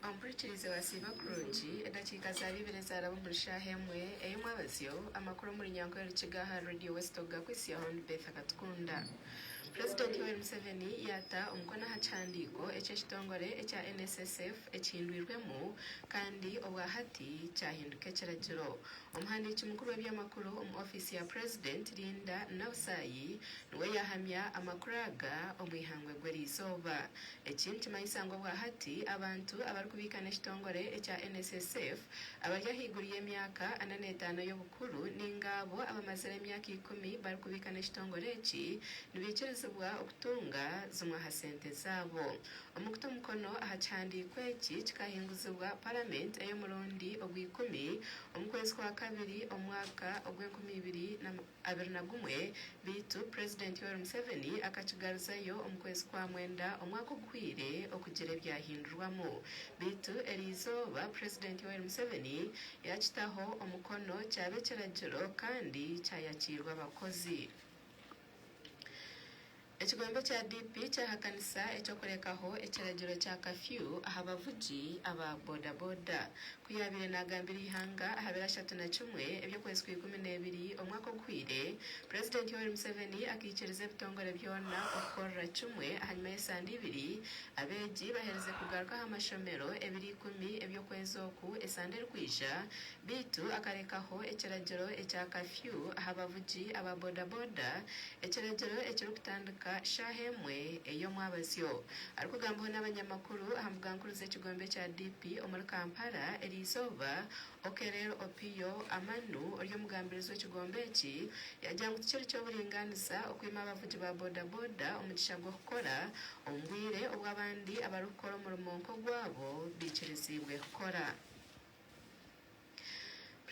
Omu buhikirizi bwa Siiba Kurungi, edakiika zaaba ibiri ezaaraba omuri shaaha emwe ey'omwabazyo, amakuru omuri Nyankore Rukiga aha Radio West ogu gakwitsya Hon Beth Katukunda. Purezidenti Yoweri Museveni yaata omukono aha kihandiiko eki ekitongore ekya NSSF ekihindwirwemu kandi obwa hati kyahinduka ekiragiro. Omuhandiiki mukuru w'eby'amakuru omu ofiisi ya purezidenti, Linda Nausaayi, niwe yaahamya amakuru aga omu eihangwe Egw'eriizooba. Eki nikimanyisa ngu obwahati abantu abarikubiika n'ekitongore ekya NSSF abari ahaiguru y'emyaka ana n'etaano y'obukuru nainga abo abamazire emyaka ikumi barikubiika n'ekitongore eki nibaikirizibwa okutunga zimwe aha sente zaabo. Omu kuta omukono aha kihandiiko eki kikahinguzibwa Paramenti ey'omurundi ogw'eikumi omu kwezi kwa kabiri omu mwaka ogw'enkumi ibiri na abiri na gumwe beitu Purezidenti Yoweri Museveni akakigaruzayo omu kwezi kwa mwenda omwaka oguhweire okugira ebyahindurwamu beitu eri izooba Purezidenti Yoweri Museveni yakitaho omukono kyaba ekiragiro kandi kyayakirwa abakozi. Ekigombe kya DP kyahakanisa eky'okurekaho ekiragiro kya kafyu aha bavugi aba boda boda ku yaabaire naagambira eihanga aha biro ashatu na kimwe eby'okwezi kwa ikumi n'ebiri omwaka oguhweire, Purezidenti Yoweri Museveni akaikiriza ebitongore byona okukorera kimwe ahanyima y'esande ibiri abeegi baherize kugaruka aha mashomero ebiro ikumi eby'okwezi oku esande erikwija Beitu akarekaho ekiragiro ekya kafyu aha bavugi aba bodaboda, ekiragiro ekirikutandika shaaha emwe ey'omwabazyo. Arikugambaho n'abanyamakuru aha mbuga nkuru z'ekigombe kya DP omuri Kampala eri izooba, Okelel Opiyo Amanu ori omugambirizi w'ekigombe eki yagira ngu tikiri ky'oburingaaniza okwima abavugi ba bodaboda omugisha gw'okukora omu bwire obu abandi abarikukora omurimo nk'ogwabo baikiriziibwe kukora.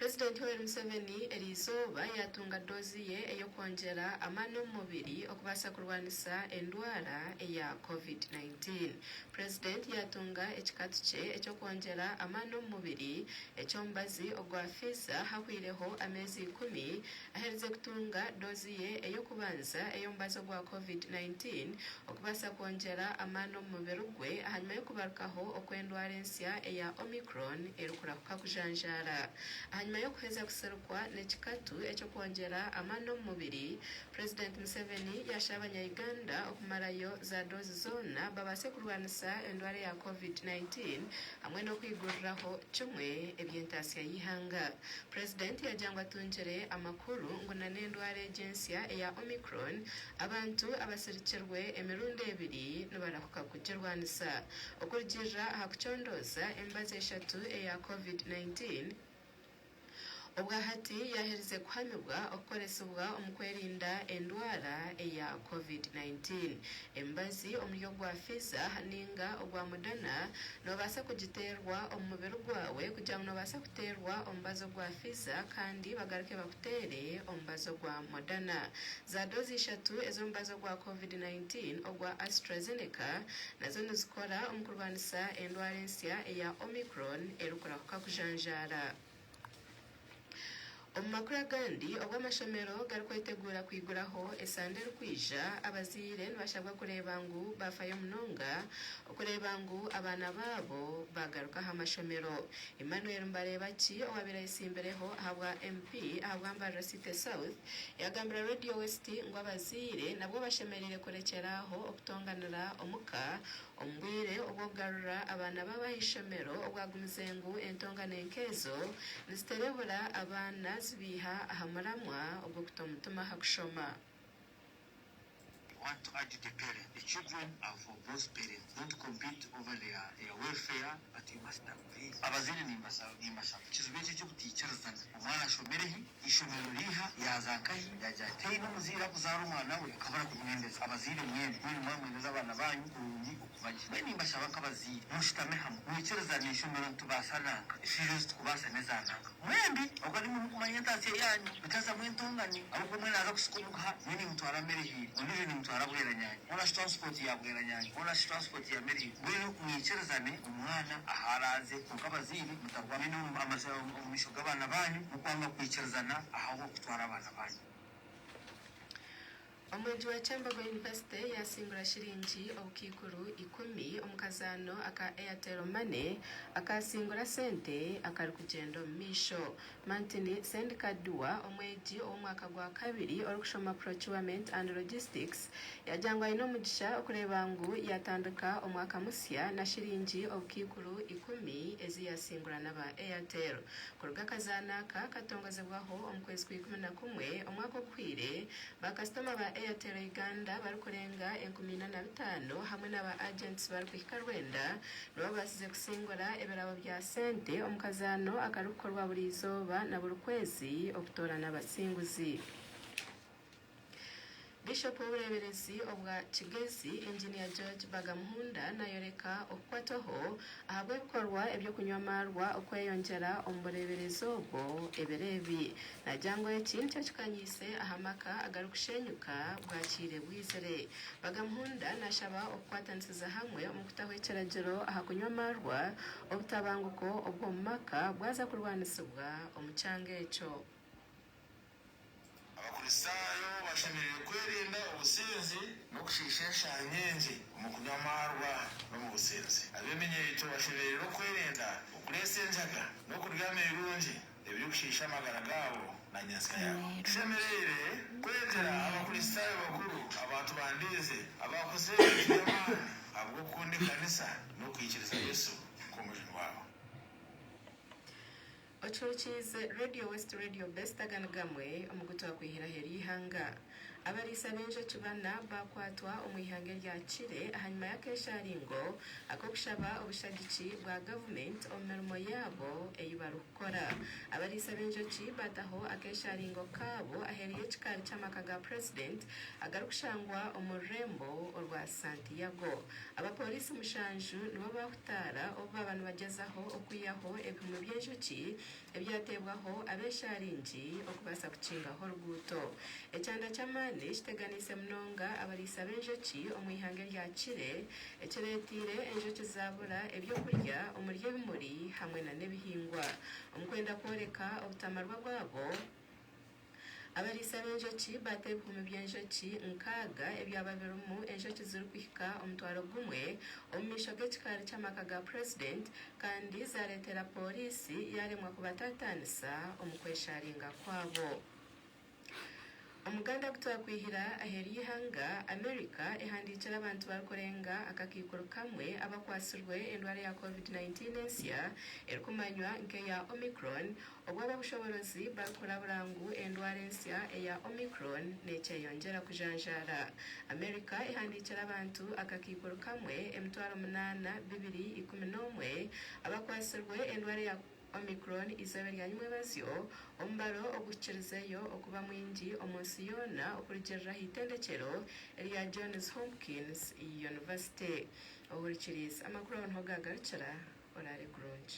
Purezidenti Yoweri Museveni eri izooba yaatunga doozi ye ey'okwongyera amaani omu mubiri okubaasa kurwanisa endwara eya covid nineteen. Purezidenti yaatunga ekikatu kye eky'okwongyera amaani omu mubiri eky'omubazi ogwa Pfizer hahweireho ameezi ikumi Aherize kutunga doozi ye ey'okubanza ey'omubazi ogwa Covid nineteen okubaasa kwongyera amaani omu mubiri gwe ahanyima y'okubarukaho okw'endwara ensya eya Omicron erikurahuka kujanjaara. Ahanyima y'okuheza kusirikwa n'ekikatu eky'okwongyera amaani omu mubiri, President Museveni yasha abanya Uganda okumarayo za doozi zoona babaase kurwanisa endwara eya Covid nineteen hamwe n'okwiguriraho kimwe eby'entaasya y'eihanga. President yagira ngu atungire amakuru ngu na n'endwara egi ensya eya Omicron abantu abasirikirwe emirundi ebiri nibarahuka kugirwanisa. Okurugiirira aha kucondooza emibazi eshatu eya Covid nineteen obwa hati yaaherize kuhamibwa okukoresibwa omu kwerinda endwara eya Covid nineteen. Emibazi omuri ogwa Pfizer ninga ogwa Moderna noobaasa kugiteerwa omu mubiri gwawe kugira ngu noobaasa Teerwa omubazi ogwa Fiza kandi bagaruke bakuteere omubazi ogwa Moderna. Za doozi ishatu ez'omubazi ogwa Covid nineteen ogwa Astrazeneca nazo nizikora omu kurwanisa endwara ensya eya Omicron erikurahuka kujanjaara. Omu makuru agandi, obu amashomero garikweteguura kwiguraho esande erikwija, abazaire nibashabwa kureeba ngu baafayo munonga okureeba ngu abaana baabo baagaruka aha mashomero. Emmanuel Mbareebaki owaabaire ayetsimbireho ahabwa MP ahabwa Mbarara City South, yaagambira Radio West ngu abazaire nabwo bashemereire kurekyera aho okutonganira omuka Omu bwire obw'okugarura abaana baabo aha ishomero obwagumize ngu entongane nk'ezo niziterebura abaana zibaiha aha muramwa ogw'okuta omutima aha kushoma. I want to urge the parents, the children are for both parents, don't compete over their their welfare but you must. Abazaire nimbashaba ekizibu eki eky'obutaikiriza ngu omwana ashomire hi, eishomero riiha, yaaza nkahi, yaagira ati haine omuzaire arikuzaara omwana we akabura kumwendeza. Abazaire mwena mwine mwamwendeza abaana baanyu kurungi okubagye. Mbwenu nimbashaba nk'abazaire mushutame hamwe mwikirizane enshomero nitubaasa nanka, enshoija ezi tikubaasa n'eza nanka. Mwembi okuba nimwo murikumanya entaasya yaanyu. Mutazamu entongano ahabw'okuba omwe naaza kusika omuguha, omwe nimutwara Merihiri, ondiijo nimutwara Bweranyangi, nari shi Transport ya Bweranyangi, nari shi Transport ya Merihiri, mbwenu mwikirizane omwana ahu araaze. Kwonka abazaire, mutarwana enyuma omu maisho omu maisho g'abaana baanyu, murikwanga kwikirizana ahabw'okutwara abaana baanyu. Omwegi wa Kyambogo University yaasimbura shiringi obukaikuru ikumi omu kazaano aka Airtel Money akaasingura sente akarikugyenda omu maisho. Martin Sendikaddua, omwegi ow'omwaka gwa kabiri orikushoma Procurement and Logistics, yaagira ngu aine omugisha okureeba ngu yaatandika omwaka musya na shiringi obukaikuru ikumi ezi yaasingura n'aba Airtel. Kuruga akazaano aka katongozebwaho omu kwezi kwa ikumi na kumwe omwaka oguhweire, Baakasitoma ba Airtel Uganda barikurenga enkumi ina na bitaano hamwe na ba agents barikuhika rwenda nibo babaasize kusingura ebirabo bya sente omu kazaano akarikukorwa buri izooba na buri kwezi okutoorana abasinguzi. Bishop w'obureeberezi obwa Kigezi, Engineer George Bagamuhunda naayoreka okukwatwaho ahabw'ebikorwa eby'okunywa amaarwa okweyongyera omu bureeberezi obwo ebiro ebi. Nagira ngu eki nikyo kikanyiise aha maka agarikushenyuka bwakiire bwizire. Bagamuhunda nashaba okukwatanisiza hamwe omu kutaho ekiragiro aha kunywa amaarwa, obutabanguko obw'omu maka bwaza kurwanisibwa omu kyanga ekyo. Abakristaayo bashemereire kwerinda obusinzi n'okushiisha enshaari nyingi omu kunywa amaarwa n'omu businzi. Ab'eminyeeto bashemereire okwerinda okureetsa enjaga n'okurya ameirungi. ebirikushiisha amagara gaabo na nyetsya yaabo. Tushemereire kwegyera Abakristaayo bakuru abantu ba ndeeze abaakozire ebintu by'amaani ahabw'okukunda ekanisa n'okwikiriza Yesu nk'Omujuni waabo. Ocwekiize Radio West Radio Best Aga nigamwe omu gu twakwihiraho ery'eihanga. Abariisa b'enjoki bana baakwatwa omu ihanga erya Chile ahanyima y'akeeshaaringo ak'okushaba obushagiki bwa gavumenti omu mirimo yaabo ei barikukora. Abariisa b'enjoki baataho akeeshaaringo kaabo aheeru y'ekikaari ky'amaka ga purezidenti agarikushangwa omu rurembo orwa Santiago. Abapooriisi mushanju nibo baahutaara obu baaba nibagyezaho okwihaho ebihumi by'enjoki ebyateebwaho ab'eshaaringi okubaasa kukingaho oruguuto. Ekyanda ky'amaani kiteganiise munonga abariisa b'enjoki omu ihanga eryakire, ekireeteire enjoki zaabura eby'okurya omuri ebimuri hamwe n'ebihingwa. Omu kwenda kworeka obutamarwa bwabo, Abariisa b'enjoki baata ebihumi by'enjoki nkaaga ebyaba birimu enjoki zirikuhika omutwaro gumwe omu maisho g'ekikaari ky'amaka ga Purezidenti kandi zaareetera pooriisi yaaremwa kubataataanisa omu kwesharinga kwabo. Omuganda gu twakwihira aheeru y'eihanga, Amerika ehandiikire abantu barikurenga akakaikuru kamwe abakwatsirwe endwara ya Covid nineteen ensya erikumanywa nk'eya Omicron Obu ab'obushoboorozi barikurabura ngu endwara ensya eya Omicron neekyeyongyera kujanjaara, America ehandiikire abantu akakaikuru kamwe emitwaro munaana bibiri ikumi n'omwe abakwatsirwe endwara eya Omicron eizooba rya Nyimwebazyo, omubaro oguhikirizeyo okuba mwingi omu nsi yoona okurugiirira aha itendekyero erya Johns Hopkins University. Ohurikiriize, amakuru aho niho gaagarukira. Oraare kurungi.